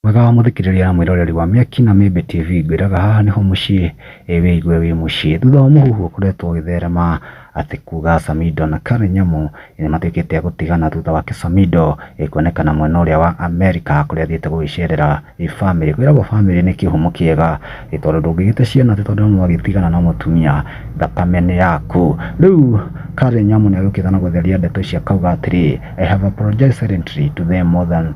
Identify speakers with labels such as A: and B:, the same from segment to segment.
A: Mwega wa mũthikĩrĩria na mwĩroreri wa Mĩaki na Mĩmbĩ TV, ngwĩraga haha nĩho mũciĩ, ĩ wĩigue wĩ mũciĩ. Thutha wa mũhuhu ũkoretwo ũgĩtherema atĩ kuga Samido na Karen Nyamu nĩ matuĩkĩte a gũtigana thutha wake Samido kuonekana mwena ũrĩa wa Amerika kũrĩa athiĩte gũgĩcerera famĩlĩ. Kwĩragwo famĩlĩ nĩ kĩhumo kĩega ĩ tondũ ndũngĩgĩte ciana atĩ tondũ nĩ mwagĩtigana na mũtumia thakame nĩ yaku. Rĩu Karen Nyamu nĩ agĩũkĩte na gũtheria ndeto ici akauga atĩrĩ, I have apologised silently to them more than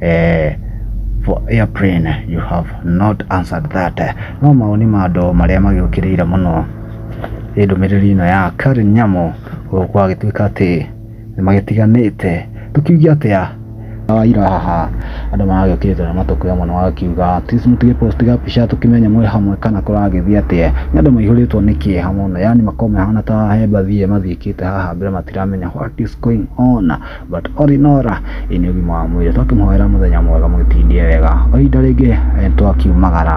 A: eh, for airplane you have not answered that no maoni ma andũ marĩa magĩũkĩrĩire mũno ĩ ndũmĩrĩri ĩno ya Karen Nyamũ gũkũ agĩtuĩka atĩ nĩ magĩtiganĩte tũkiuge atĩa wa ira haha andũ maragĩũkĩrĩte na matũkũ ya mwana wakiuga tis mũtige post gabica tũkĩmenye mwĩ hamwe kana kũragĩthiĩ atĩa nĩ andũ maihũrĩtwo nĩ kĩeha mũno yani makoma hana ta he mbathi ĩyo mathiĩkĩte haha mbere matiramenya what is going on But Orinora ĩ nĩ ũgima wa mwĩrĩ twakĩmũhoera mũthenya mwega mũgĩtindie wega o ihinda rĩngĩ eh, twakiumagara